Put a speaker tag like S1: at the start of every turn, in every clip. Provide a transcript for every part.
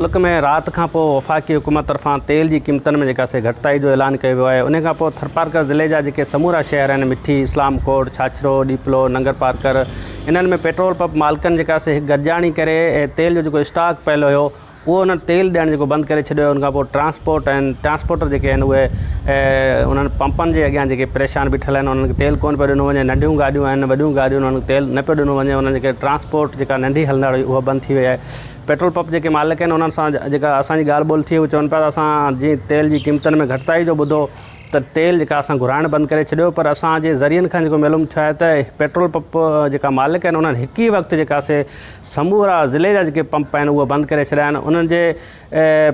S1: ملڪ ۾ رات کان پوء وفاقي حڪومت طرفان تيل جي قيمتن ۾ جيڪا سي گهٽتائي جو اعلان ڪيو ويو آهي انهي کان پوء ٿرپارڪر ضلعي جا جيڪي سمورا شهر آهن مٺي، اسلام ڪوٽ، ڇاڇرو، ڏيپلو، ننگرپارڪر انهن ۾ پيٽرول پپ مالڪن جيڪا سي هڪ گڏجاڻي ڪري تيل جو جيڪو اسٽاڪ پيل هيو اهو انهن تيل ڏيڻ جيڪو بند ڪري ڇڏيو ان کان پوء ٽرانسپورٽ ۽ ٽرانسپورٽر جيڪي آهن اهي انهن پمپن جي اڳيان جيڪي پريشان بيٺل آهن انهن کي تيل ڪونه پيو ڏنو وڃي ننڍيون گاڏيون آهن وڏيون گاڏيون انهن کي تيل نه پيو ڏنو وڃي انهن جيڪي ٽرانسپورٽ جيڪا ننڍي هلندڙ هئي اها بند ٿي وئي آهي پيٽرول پپ جيڪي مالڪ آهن انهن سان جيڪا اسان جي ڳالهه ٻولهه ٿي اهي چون پيا ته اسان جي تيل جي قيمتن ۾ گهٽتائي جو ٻڌو ته تيل جيڪا اسان گهرائڻ بند ڪري ڇڏيو پر اسان جي ذريعن کان جيڪو معلوم ٿيو آهي ته پيٽرول پپ جيڪا مالڪ آهن انهن هڪ ئي وقت جيڪا سي سمورا ضلعي جا جيڪي پمپ آهن اهي بند ڪري ڇڏيا آهن انهن جي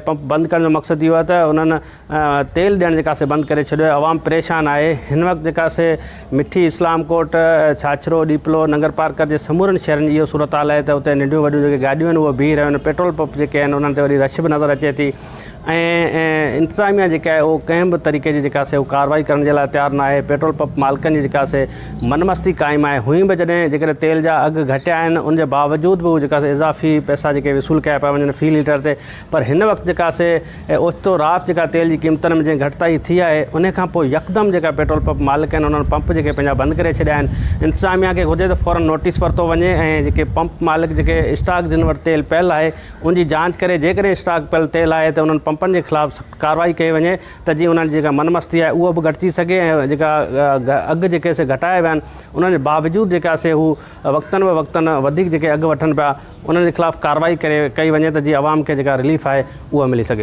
S1: پمپ بند ڪرڻ جو مقصد اهو آهي ته انهن تيل ڏيڻ جيڪا سي بند ڪري ڇڏيو آهي عوام پريشان آهي هن وقت جيڪا سي مٺي اسلام ڪوٽ ڇاڇرو ڏيپلو ننگر پارڪر جي سمورن شهرن جي اهو صورتحال آهي ته اتي ننڍيون وڏيون جيڪي گاڏيون آهن اهي بيهي رهيون آهن پيٽرول پمپ جيڪي آهن انهن تي وڏي رش به نظر اچي ٿي ۽ انتظاميا جيڪا آهي اهو ڪنهن به طريقي جي جيڪا سي ڪارروائي ڪرڻ جي لاء تيار ناهي پيٽرول پمپ مالڪن جي جيڪا سي من مستي قائم آهي هونئن به جڏهن جيڪڏهن تيل جا اگهه گهٽيا آهن ان جي باوجود به جيڪا سي اضافي پئسا جيڪي وصول ڪيا پيا وڃن في ليٽر تي پر هن وقت جيڪا سي ۽ اوچتو رات جيڪا تيل جي قيمتن ۾ جنهن گهٽتائي ٿي آهي انهي کان پوء يڪدم جيڪا پيٽرول پمپ مالڪ آهن انهن پمپ جيڪي پنهنجا بند ڪري ڇڏيا آهن انتظاميا کي گهرجي ته فورن نوٽيس ورتو وڃي ۽ جيڪي پمپ مالڪ جيڪي اسٽاڪ جن وٽ تيل پيل آهي ان جي جانچ ڪري جيڪڏهن اسٽاڪ پيل تيل آهي ته انهن پمپن جي خلاف سخت ڪارروائي ڪئي وڃي ته جيئن انهن جي جيڪا من مستي آهي اهو به گهٽجي سگهي ۽ جيڪا اگهه جيڪي سي گهٽايا ويا آهن انهن جي باوجود جيڪا سي هو وقتن به وقتن وڌيڪ جيڪي اگهه وٺن پيا انهن جي خلاف ڪارروائي ڪري ڪئي وڃي ته جيئن عوام کي جيڪا رليف آهي اهو ملي سگهي.